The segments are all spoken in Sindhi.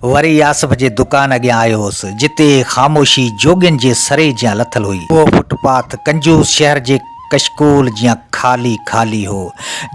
وري آصف جي دڪان اڳيان آيو هوس، جتي خاموشي جوڳين جي سري جيان لٿل هئي. اهو فٽ پاٿ ڪنجوس شهر جي ڪشڪول جيان خالي خالي هو،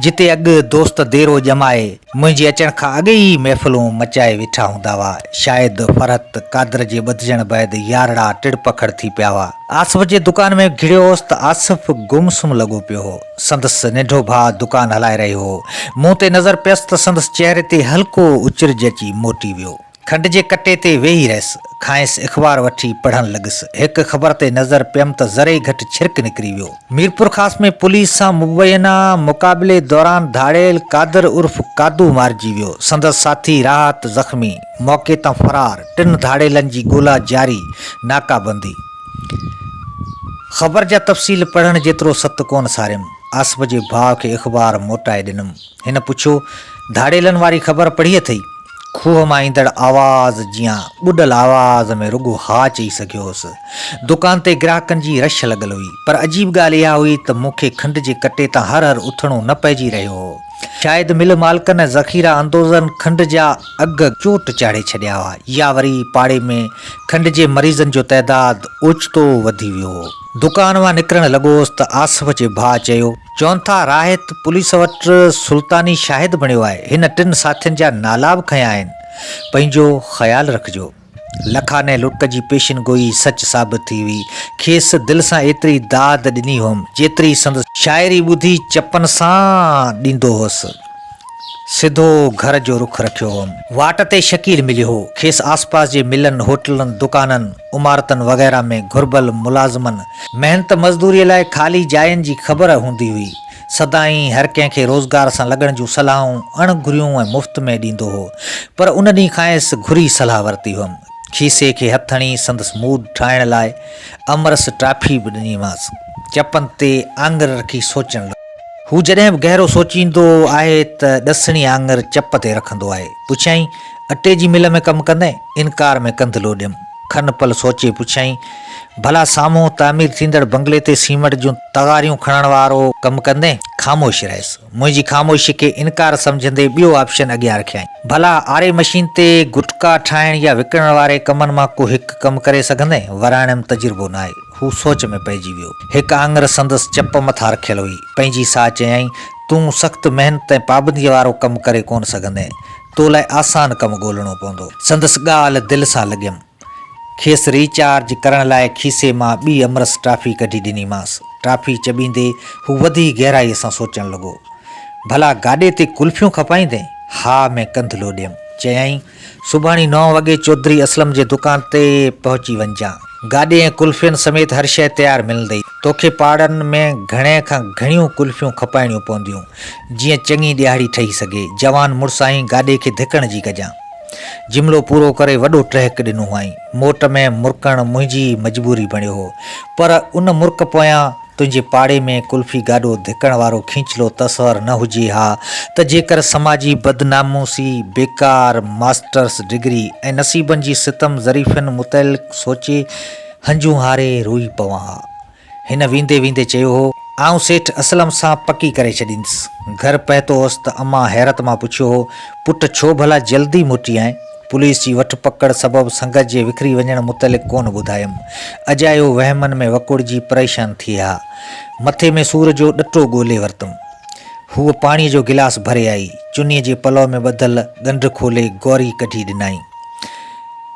جتي اڳ دوست ديرو ڄمائي، منهنجي اچڻ کان اڳ ئي محفلون مچائي ويٺا هوندا هئا، شايد فرحت قادر جي ٻڌجڻ بعد يارڙا ٽڙپکڙ ٿي پيا هئا. آصف جي دڪان ۾ گهڙيو هوس ته آصف گم سم لڳو پيو هو. سندس ننڍو ڀاء دڪان هلائي رهيو هو. مون تي نظر پيس ته سندس چهري تي هلڪو اچرج اچي موٽي ويو. کنڊ جي ڪٽي تي ويهي رهيس. کانئس اخبار وٺي پڙهڻ لڳس. هڪ خبر تي نظر پيم ته ذري گهٽ ڇرڪ نڪري ويو. ميرپورخاص ۾ پوليس سان مبينا مقابلي دوران ڌاڙيل قادر عرف قادو مارجي ويو. سندس ساٿي راحت زخمي. موقعي تان فرار. ٽن ڌاڙيلن جي ڳولا جاري. ناڪابندي. خبر جا تفصيل پڙهڻ جيترو ست ڪونه ساريم. آصف جي ڀاء کي اخبار موٽائي ڏنم. هن پڇيو، ڌاڙيلن واري خبر پڙهي اٿئي؟ کوهه مان ايندڙ آواز جيان ٻڏل آواز ۾ رڳو ها چئي سگهيو هوس. دڪان تي گراهڪن جي رش لڳل هئي، پر عجيب ڳالهه اها هئي ته مون کي کنڊ جي ڪٽي تان هر هر اٿڻو نه پئجي رهيو هو. شايد مل مالڪن ۽ ذخيره اندوزن کنڊ جا اگهه چوٽ چاڙهي ڇڏيا هئا يا وري پاڙي ۾ کنڊ جي مريضن جو تعداد اوچتو وڌي ويو هو. دڪان مان نڪرڻ لڳوس ته آصف جي ڀاء چيو. چون ٿا راحت پوليس وٽ سلطاني شاهد بڻيو آهي. هن ٽن ساٿين جا نالا به کنيا آهن. پنهنجو خيال رکجو. لکانئي لٽ جي پيشن گوئي سچ ثابت ٿي هئي. کيس دل سان ايتري داد ڏني هئم، جيتري سندس شاعري ٻڌي چپن سان ڏيندو هوس. سڌو گهر جو رخ رکيو هئم. واٽ تي شڪيل مليو هو. کيس آسپاس جي ملن، هوٽلن، دڪانن، عمارتن وغيره ۾ گهربل ملازمن، محنت مزدوريء لاء خالي جاين جي خبر هوندي هئي. سدائين هر ڪنهن کي روزگار سان لڳڻ جون صلاحون اڻ گهريون ۽ مفت ۾ ڏيندو هو. پر ان ڏينهن کانئس گهري صلاح ورتي هئم. کيسي کي هٿ هڻي سندس موڊ ٺاهڻ لاء امرس ٽافي به ڏنيمانس. چپن تي آڱر رکي سوچڻ لڳو. هو جڏهن به گهرو سوچيندو آهي ته ڏسڻي آڱر چپ تي رکندو آهي. پڇيائين، اٽي جي مل ۾ ڪم ڪندين؟ انڪار ۾ ڪنڌ لوڏيم. کن پل سوچي پڇيائين، ڀلا سامهون تعمير ٿيندڙ بنگلي تي سيمنٽ جون تغاريون کڻڻ وارو ڪم ڪندين؟ خاموش رهيس. منهنجي خاموشي کي انڪار سمجهندي ٻيو آپشن اڳيان رکيائين، ڀلا آري مشين تي گٽڪا ٺاهڻ يا وڪڻڻ واري ڪمن مان ڪو هڪ ڪم ڪري سگهندين؟ وراڻيم تجربو ناهي. هو سوچ ۾ پئجي ويو. هڪ آڱر سندس چپ مٿان رکيل هئي. پنهنجي ساهه چيائين، تون سخت محنت ۽ پابنديء وارو ڪم ڪري ڪونه سگهندين. تو لاء آسان ڪم ڳولڻو پوندو. سندس ڳالهه دل سان لڳيم. کيس ري چارج ڪرڻ لاء کيسي مان ٻي امرس ٽافي ڪڍي ڏني مانس. ٽافي چٻيندي هو وڌي گهرائي سان سوچڻ لڳو. ڀلا گاڏي تي ڪلفيون کپائيندين؟ ها ۾ ڪنڌ لوڏيم. چيائين، سڀاڻي نو وڳي چوڌري اسلم جي دڪان تي پهچي وڃجان. گاڏي ۽ ڪلفين سميت هر شيء تيار ملندئي. توکي پاڙن ۾ گهڻي کان گهڻيون ڪلفيون کپائڻيون پونديون. جيئن چڱي ڏيهاڙي ٺهي سگهي. جوان مڙسائين گاڏي کي ڌڪڻ جي ڪجان جملو پورو ڪري وڏو ٽهڪ ڏنو هئائين. موٽ ۾ مرڪڻ منهنجي ئي مجبوري بڻيو هو. پر ان مرڪ پويان تنهنجي پاڙي ۾ قلفي گاڏو ڌڪڻ وارو کينچلو تصور نه هجي ها ته جيڪر سماجي بدناموسي، بيڪار ماسٽرس ڊگري ۽ نصيبن جي ستم ظريفين متعلق سوچي هنجون هاري روئي پوان ها. هن ويندي ويندي چيو هو، آئون سيٺ اسلم سان پڪي ڪري ڇڏيندس. گهر پهتو هوس ته امان حيرت مان پڇيو هو، پٽ ڇو ڀلا جلدي موٽي آئين؟ پوليس جي وٺ پڪڙ سبب سنگت جي وکري وڃڻ متعلق ڪونه ٻڌايم. اجايو وهمن ۾ وڪوڙجي پريشان ٿي ها. مٿي ۾ سور جو ڏٽو ڳولي ورتم. هوء پاڻيء جو گلاس ڀري آئي. چنيء جي پلئو ۾ ٻڌل ڳنڍ کولي گوري ڪڍي ڏنائين.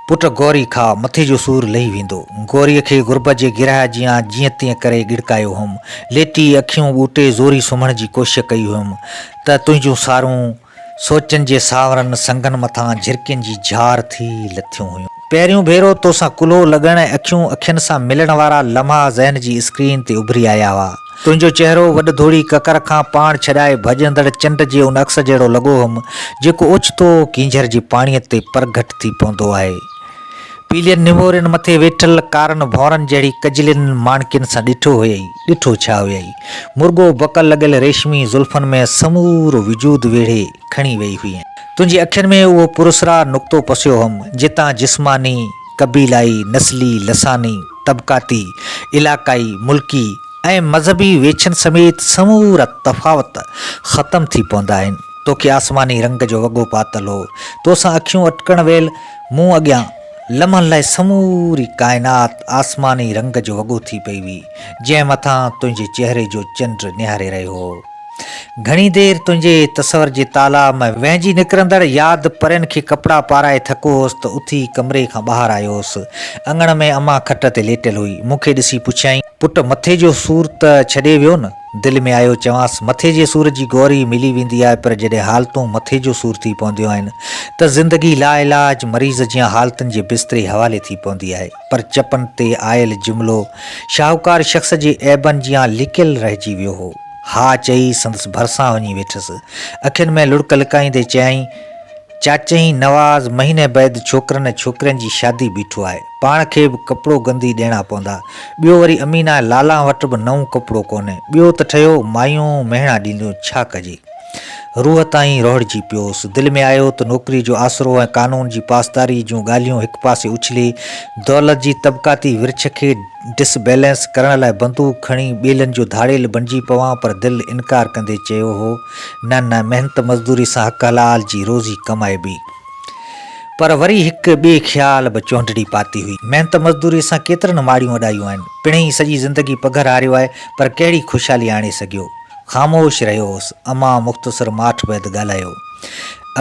پٽ گوري کاء، مٿي جو سور لهي ويندو. گوريء کي غربت جي گرهه جيان جيئن تيئن ڪري ڳڙڪايو هئم. ليٽي اکيون ٻوٽي زوري سمهڻ جي ڪوشش ڪئي هئم ته تنهنجون سارون سوچن جي سانورن سنگن مٿان جهرڪين جي جهار ٿي لٿيون هيون. پهريون ڀيرو توسان ڪلهو لڳڻ ۽ اکيون اکين سان ملڻ وارا لمحا ذهن جي اسڪرين تي اڀري آيا هئا. تنهنجو چهرو وڏ ڌوڙي ڪڪر کان پاڻ ڇڏائي ڀڄندڙ چنڊ جي ان عڪس جهڙو لڳو هئم، جيڪو اوچتو ڪينجهر جي پاڻيء تي پرگهٽ ٿي پوندو آهي. پيلين نمورين مٿي ويٺل ڪارن ڀونرن جهڙي ڪجلين ماڻڪين سان ڏٺو هيئي، ڏٺو ڇا هيئي، مرڳو بڪل لڳل ريشمي زلفن ۾ سمورو وجود ويڙهي کڻي ويئي هئين. تنهنجي اکين ۾ اهو پراسرار نقطو پسيو هئم، جتان جسماني، قبيلائي، نسلي، لساني، طبقاتي، علاقائي، ملڪي ۽ مذهبي ويڇن سميت سمورا تفاوت ختم ٿي پوندا آهن. توکي آسماني رنگ جو وڳو پاتل هو، توسان اکيون اٽڪڻ ويل مون اڳيان لمحن لاء سموري ڪائنات آسماني رنگ جو وڳو ٿي پئي هئي، جنهن مٿان تنهنجي چهري جو چنڊ نهاري رهيو هو. گهڻي دير تنهنجي تصور جي تالا ۾ وهنجي نڪرندڙ ياد پرين کي ڪپڙا پارائي ٿڪو هوس ته اٿي ڪمري کان ٻاهر آيو هوس. اڱڻ ۾ امان کٽ تي ليٽيل هئي. مون کي ڏسي پڇيائين. پٽ مٿي جو سور ته ڇڏي ويو نه؟ دل ۾ آيو چوانس، مٿي جي سور جي گوري ملي ويندي آهي پر جڏهن حالتون مٿي جو سور ٿي پونديون آهن ته زندگي لاعلاج مريض جيان حالتن جي بستري حوالي ٿي پوندي آهي. پر چپن تي آيل جملو شاهوڪار شخص جي عيبن جيان لڪيل رهجي ويو هو. ها چئي سندس ڀرسان وڃي ويٺس. اکين ۾ لڙڪ لڪائيندي چيائين، چاچئين نواز مهيني بعد ڇوڪرن ۽ ڇوڪرين جي شادي بيٺو آهي. پاڻ کي به ڪپڙو گندي ڏيڻا پوندا. ٻيو وري امينه ۽ لالان وٽ به نئون ڪپڙو ڪونهي. ٻيو ته ٺهيو مايون مهڻا ڏينديون، ڇا ڪجي؟ روح تائين روهڙجي پيوس. دل ۾ آيو ته نوڪري جو آسرو ۽ قانون جي پاسداري جون ڳالهيون هڪ پاسي اڇلي، دولت جي طبقاتي ورڇ کي ڊس بيلنس ڪرڻ لاء بندوق کڻي ٻيلن جو ڌاڙيل بڻجي پوان پر دل انڪار ڪندي چيو هو، نه نه محنت مزدوري سان حق حلال جي روزي ڪمائبي. پر وري هڪ ٻئي خيال به چهنڊڙي پاتي هئي. محنت مزدوري سان ڪيترن ماڙيون اڏايون آهن. پڻهئي سڄي زندگي پگهر هاريو آهي پر ڪهڙي خوشحالي آڻي سگهيو. خاموش رهيو هوس. امان مختصر ماٺ بعد ڳالهايو.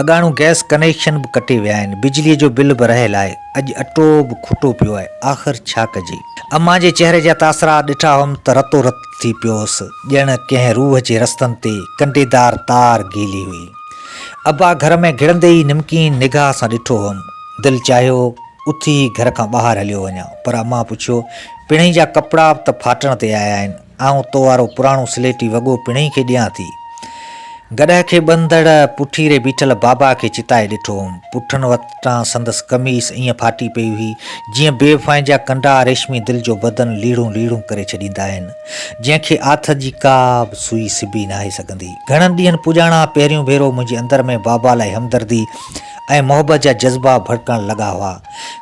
اڳاڻو گئس ڪنيڪشن به ڪٽي ويا آهن. بجليء جو بل به رهيل آهي. اڄ اٽو به کوٽو پيو آهي. آخر ڇا ڪجي؟ امان جي چهري جا تاثرات ڏٺا هئم ته رتو رت ٿي پيو هوس. ڄڻ ڪنهن روح جي رستن تي ڪنڊيدار تار گيلي هئي. ابا گهر ۾ گهڙندي ئي نمڪين نگاهه سان ڏٺو هئم. دل چاهيو اٿي ئي گهر کان ٻاهر هليو وڃان. پر امان پڇيو، پڻهئي جا ڪپڙا به ته ڦاٽڻ تي آيا آهن. آئون تو وارو پراڻو سليٽي وڳو پڻهئي کي ڏيان ٿي. گڏهه کي ٻنڌڙ پٺي ري بيٺل بابا کي چتائي ڏٺو هوم. پٺن وٽان سندس قميص ائين ڦاٽي پئي هئي، جيئن بي وفائين جا ڪنڊا ريشمي دل جو بدن ليڙون ليڙون ڪري ڇڏيندا آهن، جنهن کي آٿت جي ڪا به سوئي سبي ناهي سگهندي. گهڻن ڏينهن پڄاڻا پهريون ڀيرو منهنجي اندر ۾ بابا لاء همدردي ۽ محبت جا جذبا ڀڙڪڻ لڳا هئا.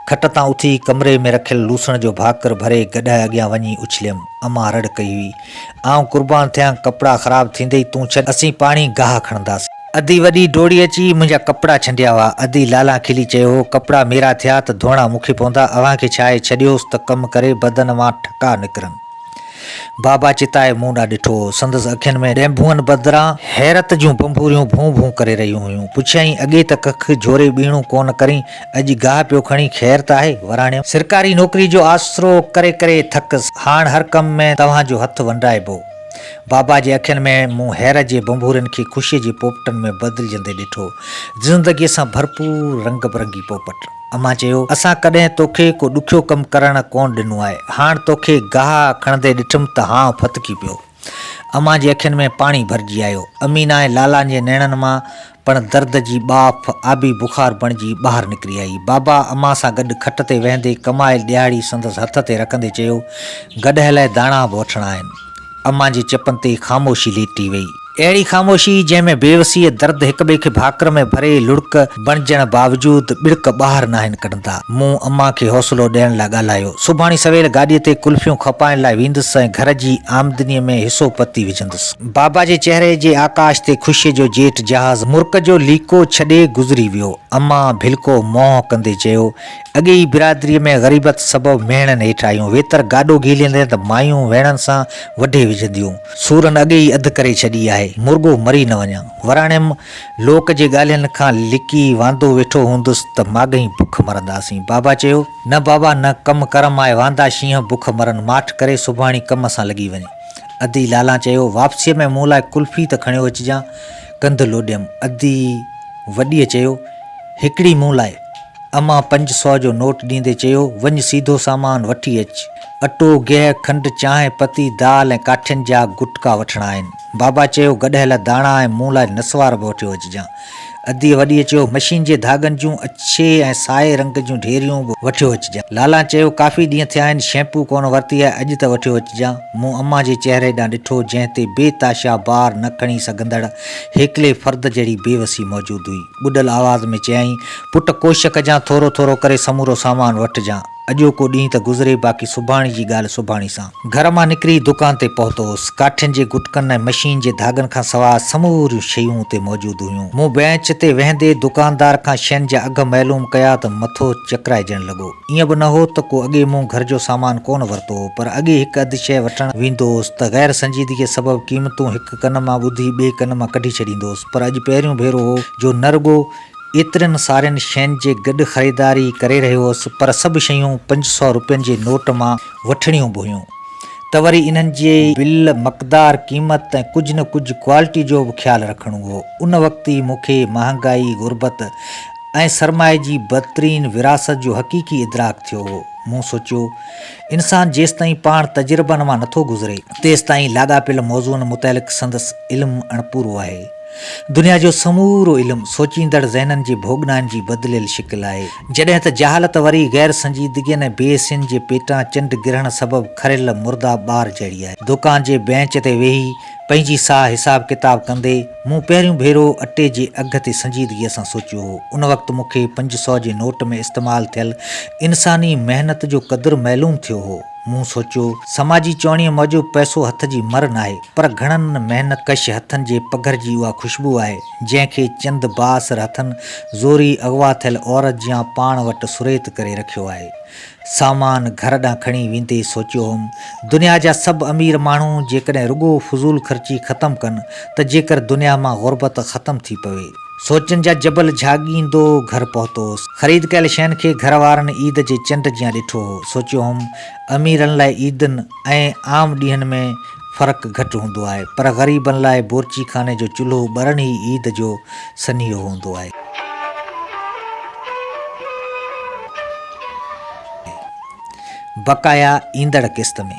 کٽ تان اٿي ڪمري ۾ رکيل لوسڻ جو ڀاڪر ڀري گڏهه اڳيان وڃي اڇليم. امان رڙ ڪئي هئي، آئون قربان ٿيان، ڪپڙا خراب ٿيندئي تون ڇڏ، اسين پاڻ ئي گاهه کڻنداسين. ادي وڏي ڊوڙي اچي منهنجا ڪپڙا ڇنڊيا هئا. ادي لالان کلي چيو هو، ڪپڙا ميرا ٿيا ته ڌوئڻا مون کي پوندا، اوهان کي ڇا آهي، ڇڏيوس ته ڪم ڪري بدن مان ٺڪا نڪرن. بابا چتائي مون ڏانهن ڏٺو هو. سندس اکين ۾ ڏينڀوئن بدران حيرت جون بنبوريون ڀون ڀون ڪري رهيون هيون. پڇيائين، اڳي ته ڪک جهوري ٻيڻو ڪونه ڪرين، اڄ گاهه پيو کڻي خير ته آهي وراڻيم. سرڪاري نوڪري جو آسرو ڪري ڪري ٿڪس. هاڻ هر ڪم ۾ توهان جو هٿ ونڊائبو. بابا جي اکين ۾ مون هير جي ڀنڀورين کي خوشيء جي پوپٽن ۾ بدلجندي ڏٺو. زندگيء سان ڀرپور رنگ برنگي پوپٽ. امان چيو، اسان ڪڏهن توکي ڪو ڏکيو ڪم ڪرڻ ڪونه ڏنو آهي. هاڻ توکي گاهه کڻندي ڏٺم ته هانء ڦٿڪي پيو. امان جي اکين ۾ پاڻي ڀرجي آيو. امين ۽ لالان جي نيڻن مان پڻ درد جي ٻاڦ آبي بخار بڻجي ٻاهر نڪري آئي. بابا امان سان گڏ کٽ تي ويهندي ڪمايل ڏيهاڙي سندس هٿ تي رکندي چيو، گڏهه لاء داڻا به وٺڻا آهن. امان جي چپن تي خاموشي ليٽي وئي. اهڙي خاموشي جنهن ۾ بيوسيء، درد، هڪٻئي کي ڀاڪر ۾ ڀري لڙڪ، بڻجڻ باوجود ٻڙڪ ٻاهر ناهن ڪڍندا. مون امان کي حوصلو ڏيڻ لاء ڳالهايو. سڀاڻي سويل گاڏيء تي ڪلفيون کپائڻ لاء ويندس ۽ گهر جي آمدنيء ۾ حصو پتي وجهندس. بابا جي چهري جي آڪاش تي خوشيء جو جيٽ جهاز مرڪ جو ليڪو ڇڏي گذري ويو. امان ڀلڪو منهن ڪندي چيو، اڳي ئي برادريء ۾ غريبت سبب مهڻن هيٺ آهيون. ويتر گاڏو گهيليندين ته مايون ويڻن سان وڍي وجهنديون. سورن اڳي ئي اڌ ڪري ڇڏي آهي. مرڳو مري نه وڃان. وراڻيم. لوڪ جي ڳالهين کان لڪي واندو ويٺو هوندس ته ماڳهين بک مرنداسين. بابا چيو. نه بابا نه، ڪم ڪر مان اهي واندا شينهن بک مرن. ماٺ ڪري سڀاڻي ڪم سان لڳي وڃ. ادي لالا چيو. واپسيء ۾ مون لاء قلفي ته کڻيو اچجان. ڪنڌ لوڏيم. ادي وڏيء چيو. هڪڙي مون لاء. امان پنج سؤ جو نوٽ ڏيندي چيو. وڃ سيڌو سامان وٺي اچ. اٽو، گيهه، کنڊ، چانهه پتي، دال ۽ ڪاٺين جا گٽڪا وٺڻا آهن. بابا چيو، گڏهيل داڻا ۽ مون لاء نسوار به وٺيو اچجان. اديء وڏيء چيو، مشين جي ڌاڳن جون اڇي ۽ سائي رنگ جون ڍيريون به وٺيو اچجان. لالا چيو، ڪافي ڏينهن ٿيا آهن، شيمپو ڪونه ورتي آهي، اڄ ته وٺيو اچجان. مون امان جي چهري ڏانهن ڏٺو، جنهن تي بي تاشا بار نه کڻي سگهندڙ هيڪلي فرد جهڙي بي وسي موجود هئي. ٻڏل آواز ۾ چيائين، پٽ ڪوشش ڪجان، ٿورو ٿورو ڪري سمورو سامان وٺجان. اڄوڪو ڏينهن ته گذري باقي سڀاڻي جي ڳالهه سڀاڻي سان. گهر مان نڪري دڪان تي پهتو هوس. ڪاٺين جي گٽڪن ۽ مشين جي ڌاڳن کان سواء سموريون شيون اتي موجود هيون. مون بئنچ تي ويهندي دڪاندار کان شين جا اگهه معلوم ڪيا ته مٿو چڪرائجڻ لڳو. ايئن به نه هو ته ڪو اڳي مون گهر جو سامان ڪونه ورتو هو پر اڳي هڪ اڌ شيء وٺڻ ويندو هوس ته غير سنجيدگيء سبب قيمتون هڪ ڪن مان ٻڌي ٻئي ڪن مان ڪڍي ڇڏيندو هوس پر اڄ پهريون ڀيرو هو جو نه رڳو ايترين سارين شين جي گڏ خريداري ڪري رهيو هوس پر سڀ شيون پنج سؤ روپين جي نوٽ مان وٺڻيون به هيون ته وري انهن جي بل، مقدار، قيمت ۽ ڪجهه نه ڪجهه ڪوالٽي جو به خيال رکڻو هو. ان وقت ئي مون کي مهانگائي، غربت ۽ سرمائي جي بدترين وراثت جو حقيقي ادراڪ ٿيو هو. مون سوچيو، انسان جيستائين پاڻ تجربن مان نٿو گذري، تيستائين لاڳاپيل موضوعن متعلق سندس علم اڻپورو آهي. دنيا جو سمورو علم سوچيندڙ ذهنن جي ڀوڳنائن جي بدليل شڪل آهي. جڏهن ته جهالت وري غير سنجيدگين ۽ بي حسين جي پيٽان چنڊ گرهڻ سبب کريل مرده ٻار جهڙي آهي. دوڪان جي بئنچ تي ويهي پنهنجي ساهه حساب ڪتاب ڪندي مون پهريون ڀيرو اٽي جي اگهه تي سنجيدگيء سان سوچيو هو. ان وقت مون کي پنج سؤ جي نوٽ ۾ استعمال ٿيل انساني محنت جو قدر معلوم ٿيو هو. مون سوچيو، سماجي چوڻيء موجب پئسو هٿ جي مھر ناهي، پر گهڻن محنت ڪش هٿن جي پگهر جي اها خوشبو آهي، جنهن کي چند بااثر هٿن زوريء اغوا ٿيل عورت جيان پاڻ وٽ سريت ڪري رکيو آهي. سامان گهر ڏانهن کڻي ويندي سوچيو هوم، دنيا جا سڀ امير ماڻهو جيڪڏهن رڳو فضول خرچي ختم ڪن ته جيڪر دنيا مان غربت ختم ٿي پوي. سوچن جا جبل جهاڳيندو گهر پهتو هوس. خريد ڪيل شين کي گهر وارن عيد جي چنڊ جيان ڏٺو هو. سوچيو هوم اميرن لاء عيدن ۽ عام ڏينهن ۾ فرق گهٽ هوندو آهي پر غريبن لاء بورچي خاني جو چلهو ٻرڻ ئي عيد جو سنيهو هوندو آهي. بقايا ايندڙ قسط ۾.